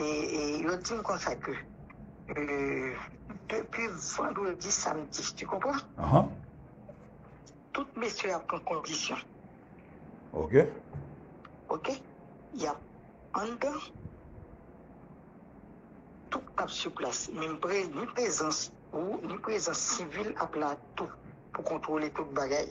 Yo di m konsa ke depi vandredi, samdi, tu konpran? Tout mesye ap pran kondisyon. Ok. Ok. Y ap anndan. Tout ap sou plas. Men m pre, ni prezans ou, ni prezans sivil ap la tou pou kontwole tout bagay.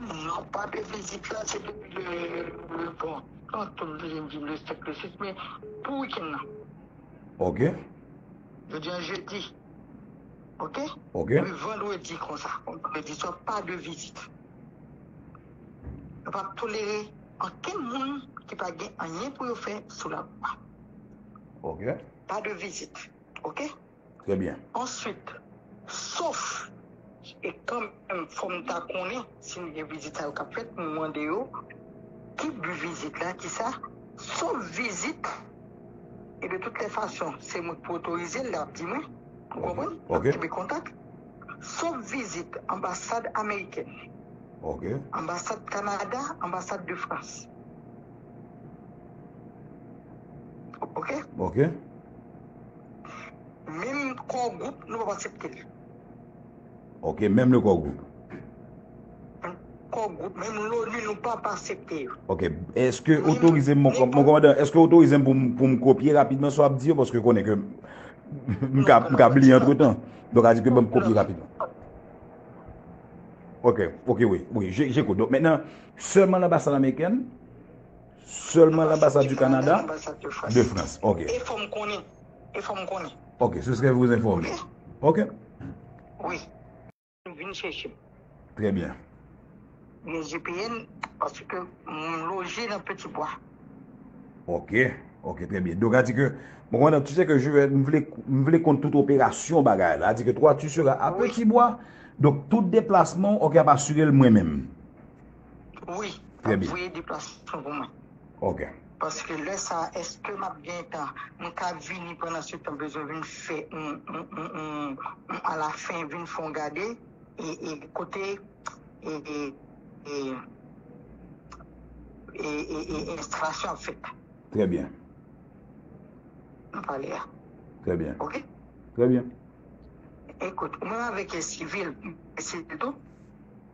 Non pa de vizit la se depi le bon an tou m vin viv le 7 le 6 men pou weekend nan. Ok. Jodi an jeudi ok. Ok. Le vendredi konsa vendredi swa pa de vizit. Nou pap tolere ankenn moun ki pa gen anyen pou yo fè sou la lwa. Ok. Pa de vizit ok. Trè byen. Answit, sof e kanmenm fò m ta konnen si m gen vizital k ap fèt m mande yo ki bi vizit la, ki sa, sof vizit e de tout lè fason se mwen k pou otorize l, lè ap di mwen, ou konprann, m ap kenbe kontak, sof vizit anbasad amerikèn, anbasad Kanada, anbasad de Frans. Ok? Ok. Menm core group nou pap aksepte l. Ok menm le core group. Core group menm loni nou pap aksepte yo. Ok eske otorize m mon komandan eske otorize m pou m kopye rapidman sa w ap di yo paske ou konnen ke m ka bliye antretan donk a di ke ban m kopye rapidman. Ok ok wi wi je koute donk mentenan sèlman l anbasad amerikèn. Selman l'ambassade du Canada, de France ok. E fom konnen, e fom konnen. Ok, ce serait vous informer. Ok. Wi. Vin chèche m. Très bien. Gen vpn paske m loje nan petit bois. Ok, ok très bien. Donc a di ke, bon komandan tu sais que je vais, m vle, m vle konn tout operasyon bagay la, a di ke toi tu seras a petit bois, donc tout deplasman ok ap asire l mwen menm. Wi, map voye deplasman pou mwen. Ok. Paske lè sa a eske map gen tan, mwen ka vini pandan se tan bezwen vin fè yon a la fin vin fè yon gade e kote e enstalasyon ap fèt. Trè byen. Nou pale a. Trè byen. Ok. Trè byen. Ekout, mwen avèk e sivil, e sivil tou.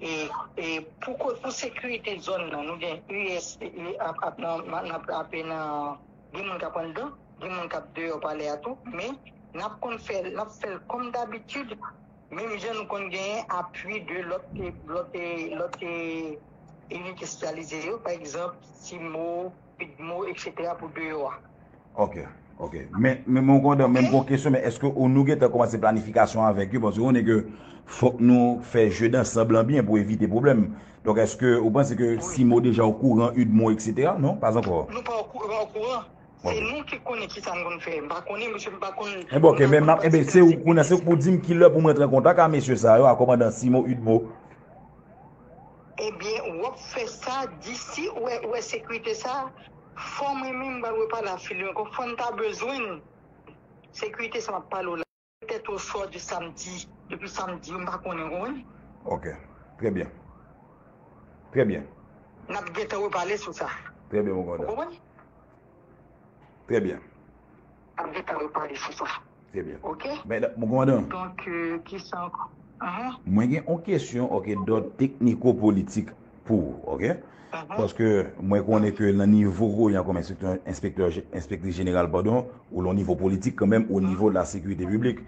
E pou sekirite zòn nan nou gen us ap nan frape nan gen moun kap anndan gen moun kap deyò palè a tou men nap konn fè nap fèl kòm dabitid menm jan nou konn gen apui de lòt lòt lòt inite espesyalize yo pa egzanp cimo Dmo etc pou deyò a. Ok ok men men mwen kontan men mwen gon kesyon men eske ou nou gentan komanse planifikasyon avèk yo paske ou konnen ke fòk nou fè jeu dansanb lan byen pou evite pwoblèm donk eske ou panse ke simo deja o kouran udmo etc non pas ankò Nou pa o kouran se nou ki konnen kisa nou konn fè m pa konnen mesye m pa konn Enben ok men map enben se ou kounye a se ou k pou dim kilè pou m rantre an kontak a mesye sa yo a kòmandan simo udmo. Ebyen wap fè sa di si ou wè sekirite sa fò mwen menm m pral repale avk li ankò fòn ta bezwenn sekirite sa map pale w la. Tèt ou sò di sam di depi sam di yo m pa konnen ou konprann. Ok trè byen trè byen. Nap gentan repale sou sa. Trè byen mwen kontan. Ou konprann. Trè byen. Ap gentan repale sou sa. Trè byen. Ok. Mè dan. Bon komandan. Donk kisa ankò. Ahan. Mwen gen yon kesyon ok dòd tekniko politik pou ou ok. Ahan. Paske mwen konnen ke nan nivo ou yan kòm enspektè enspektè enspektris jeneral padon ou lan nivo politik kanmenm o nivo la sekirite piblik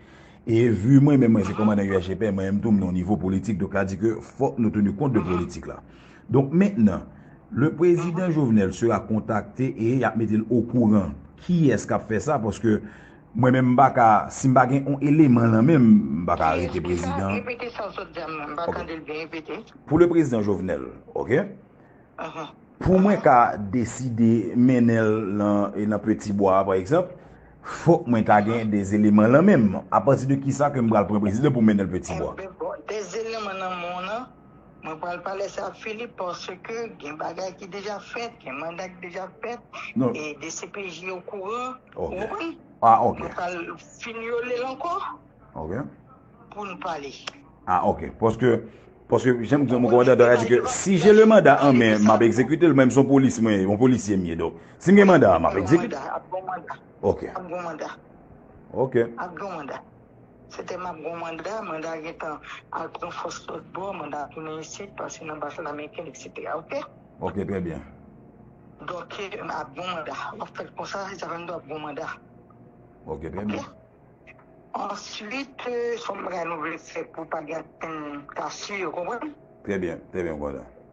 e vu mwen menm mwen se komandan USGPN mwen menm tou m lan nivo politik donk sa di ke fòk nou teni kont de politik la. Donk mentnan, le prezidan Jovenel sera contacte e yap mete l okouran kiyès kap fè sa paske mwen menm m pa ka, si m pa gen on eleman lan men m, m pa ka arete prezidan. Repete sa w sot di a m pa tande l byen, repete. Pou le prezidan Jovenel, ok, pou mwen ka deside mennen l lan peti bwa a pa egzanp, fòk mwen ta gen des eleman lan men m, apati de kisa ke m pral pran prezidan pou m mennen l peti bwa. Des eleman lan men w lan. Mwen pral pale sa a Philippe paske gen bagay ki deja fèt, gen manda ki deja fèt e dcpj o kouran. Ou konprann? Mwen pral fin yole l ankò pou n pale. Ah ok, paske jan m di w mwen konprann dada a di ke si je le manda an men m ap ekzekite l menm son polis mwen ye, on polisye m ye donk si m gen manda a m ap ekzekite l. Ap gen manda. Ap gen manda. Ok. Ap gen manda. Se te map gon manda, manda gentan al pran fòs lòt bò, manda tounen isit, pase nan baz lamekin etc ok. Ok trè byen. Dòk ap gon manda, wap fèl konsa, Xavendo ap gon manda. Ok trè byen. Answit son bagay nou vle fè pou pa gen ankenn kasyè ou konprann. Trè byen, trè byen mkonprann.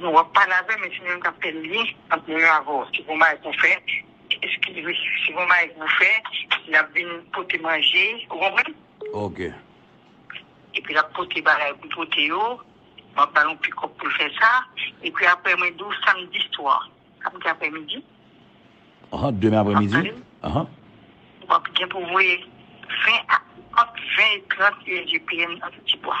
Nou ap pale avèm men se menm kap fè lyen ant mwen menm avèw si gon bagay pou fè eskizew si gon bagay pou fè lap vin pote manje ou konprann ok epi lap pote bagay pou pote yo map bal yon pikòp poul fè sa epi aprè mwen diw samdi swa kap gen aprè midi ahan demen aprè midi wap tandem ahan wap gen pou voye 20 a ant 20 e 30 ujpn nan ti bwa.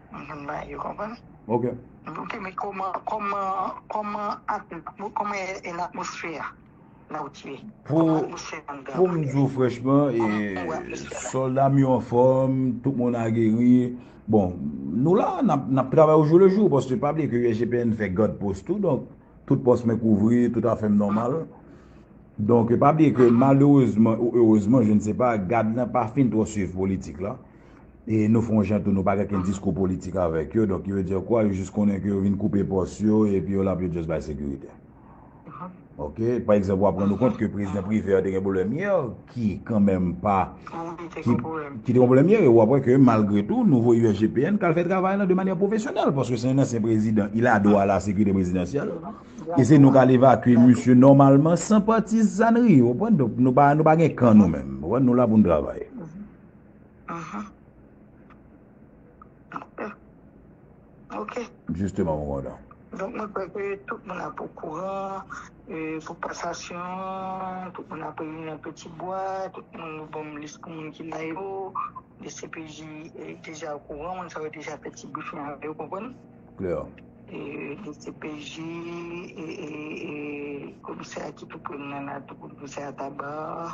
Mezanmi bagay yo konprann. Ok. Ok men koman koman koman ak koman e latmosfè a la ou t ye? Pou pou m di w franchman e solda m yo anfòm, tout moun a geri. Bon nou la nap travay ou jou le jou paske pa bliye ke USGPN fè gad pos tou donk tout pos mwen kouvri tout a fèm nòmal. Donk pa bliye ke malerezman ou erezman je ne se pa gad la pa fin twò swiv politik la. e nou fon jan tou nou pa gen ken diskou politik avèk yo donk ki vle di kwa yo jis konnen ke yo vin koupe pòs yo epi yo la pou yo just bay sekirite ok pa egzanp wap rann ou kont ke prezidan Privert te gen pwoblèm yè ki kan menm pa ki te gen pwoblèm yè e wap wè ke malgre tou nou voye USGPN kal fè travay lan de manyè pwofesyonèl paske se yon ansyen prezidan il a dwa a la sekirite prezidansyèl e se nou kal evakye misye nòmalman san patizanri ou konprann nou pa gen kan nou menm ou konprann nou la pou nou travay. Jisteman mwen kontan. Donk mwen kwè ke tout moun ap okouran pou kasasyon an, tout moun ap reyini nan Peti Bwa, tout moun nou ban m lis pou moun ki la yo, dcpj deja okouran, moun sa yo deja fè ti brifing avè yo, ou konprann? Klè. Dcpj, komisè a ki tou pre m nan la tou, komisè a Tabar.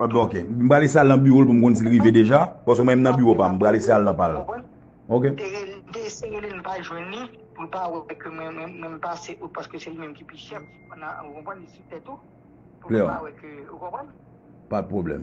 Ok m pral eseye al nan biwo l pou m konn si l rive deja paske mwen m nan biwo pa m m pral eseye al nan pa l ok. Pat pwoblèm.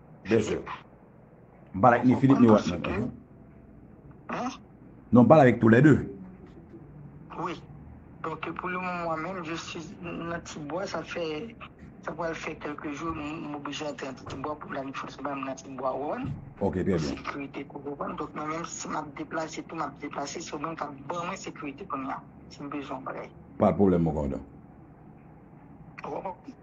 Bezwen. M pale ak ni Filip ni Watnot la. Hein? Non, m pale avèk tou lè de. Wi. Donk pou le moman mwen menm je suis nan ti bwa sa fè sa pral fè kèlke jou m oblije antre nan ti bwa pou lavi fòs ba m nan ti bwa wè m. Ok, trè byen. Sekirite pou wè m. Donk mwen menm si m ap deplase tou m ap deplase se ou menm k ap ban mwen sekirite kounya si m bezwen yon bagay. Pa de pwoblèm mon kòmandan. Ou konprann?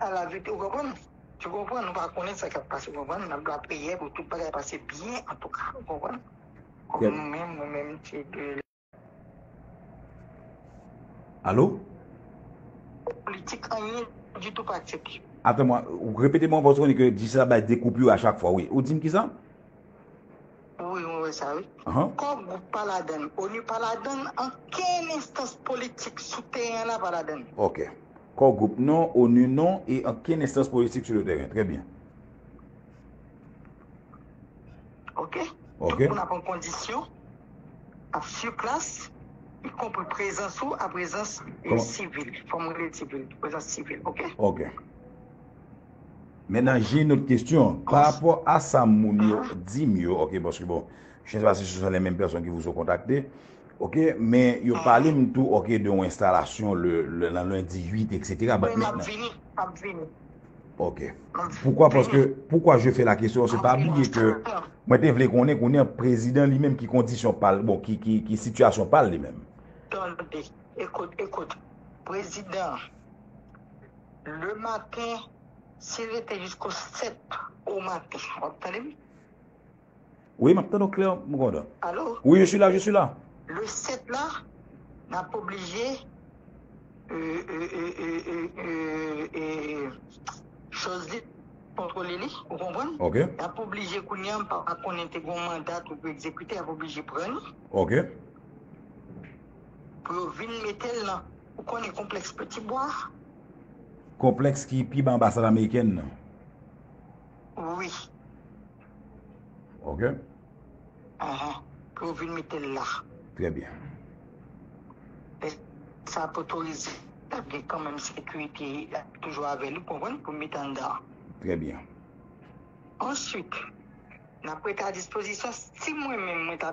a la vit ou konprann ou konprann nou pa konnen sa kap pase ou konprann nap la priyè pou tout bagay pase byen antouka ou konprann kòm nou menm nou menm se de Alo? Politik anyen ditou pa aksepte. Atan mwen, repete mwen paske ou konnen ke Djisla bay de koupur a chak fwa wi. Ou dim kisa? Wi mwen wè sa wi. Kò gwoup pa ladann, onu pa ladann, ankenn enstans politik sou teren an la pa ladann. Ok. Kò gwoup non, onu non e ankenn enstans politik sou le teren. Trè byen. Ok. Ok. Tout moun ap an kondisyon, ap su plas, y konpri prezans ou a prezans yon sivil. Fò mwen rele sivil, prezans sivil. Ok. Ok. Men nan je not kestyon, pa rapò a sa moun yo dim yo, ok, paske bon, je ne sa si se son le menm person ki vousou kontakte, ok, men yo pale m tou, ok, de yon enstalasyon le nan lundi 8, etc. Wi, m ap vini, m ap vini. Ok. Poukwa, paske, poukwa je fè la kestyon, se pa bliye ke, mwen te vle konnen, konnen prezidan li menm ki kondisyon pal, bon, ki sitiyasyon pal li menm. Tande, ekout, ekout, prezidan. Le matin si rete jisko 7 o maten wap tande m? Wi map tande w klè m kontan. Alo? Wi je suis la je suis la. Le 7 la nap oblije choz li kontrole li ou konprann? Ok. Nap oblije kounye a m pa konnen te gon manda tou pou ekzekite yap oblije pran li. Ok. Pou yo vin mete l nan. Ou konnen konplèks Peti Bwa a? Konplèks ki pi ba anbasad amerikèn nan? Wi. Ok. Ahan. Pou yo vin mete l la. Trè byen. Lè sa potorize, l ap gen kanmenm sekirite toujou avè li, ou konprann, pou mete anndan an. Trè byen. Answit, n ap rete a dispozisyon. Si mwen menm mwen ta.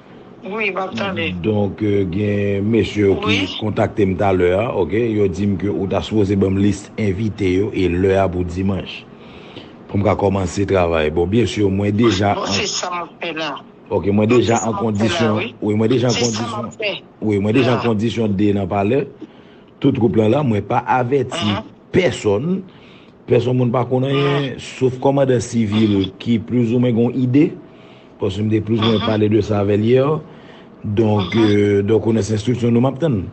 Wi map tande. Donk gen mesye yo ki kontakte m talè a ok yo di m ke ou ta sipoze ban m lis envite yo e lè a pou dimanch pou m ka kòmanse travay bon byen sur mwen deja an bon se sa map fè la ok mwen deja an kondisyon wi mwen deja an kondisyon wi mwen deja an kondisyon de nan palè tout twoup lan la mwen pa avèti pèsòn pèsòn moun pa konn anyen sof kòmandan sivil ki plis ou mwen gon ide. Paske m te plis mwen pale de sa avèl hier donk donk ou nan se enstriksyon nou map tann.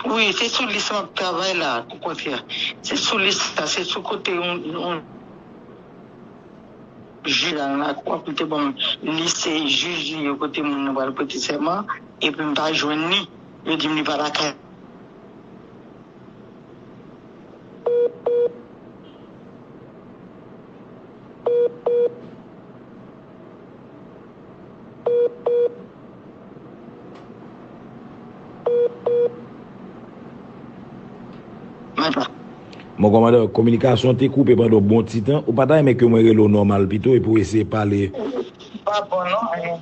Wi se sou lis map travay la pou kontrè se sou lis sa se sou kote yon yon jij la nan lakou pou te banm lis se jij li yo kote moun nan pral prete sèman epi m pa jwenn li yo dim li pa lakay Bon komandè, kominikasyon an te koupe pandan yon bon ti tan. Ou pa ta renmen ke mwen rele w nòmal pito epi w eseye pale? Ou pa bon non, men.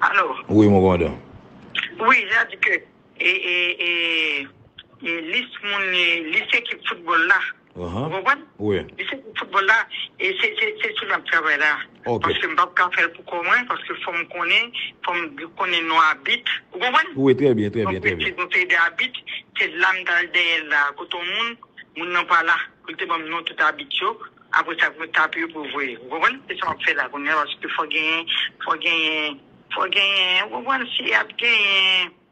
Alo. Wi mwen komandan. Wi ya di ke e e e e lis moun e lis ekip foutbòl la. Ou konprann? Li se pou foutbòl la e se sou li map travay la. Paske m pap ka fè l pou kò mwen, paske fò m konnen, fò m konnen non abit. Ou konprann? Donk mwen se pou fè de abit, se la m ta al dèyè l la. Kote yon moun, moun nan pa la pou l te ban m non tout abit yo. Aprè sa pou yo tape yo pou yo voye. Ou konprann? Se sa map fè la kounya paske fò genyen, fò genyen, fò genyen. Ou konprann? Si ap genyen.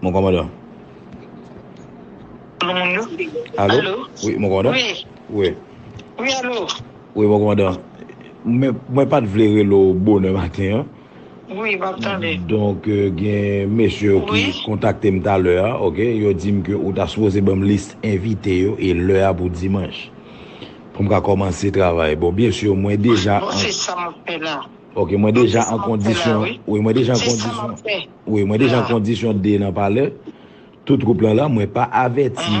Mon komandan. Alo moun yo? Alo? Alo? Oui, mon komandan? Oui. Oui. Oui, alo? Oui, mon komandan. Mwen pat vle relo bonè maten an. Wi map tande. Donk gen mesye yo ki kontakte m talè a ok yo di m ke ou ta sipoze ban m lis envite yo e lè a pou dimanch pou m ka kòmanse travay bon byen sur mwen deja an bon se sa map fè la ok mwen deja an kondisyon wi mwen deja an kondisyon wi mwen deja an kondisyon 2 nan palè tout troup lan la mwen pa avèti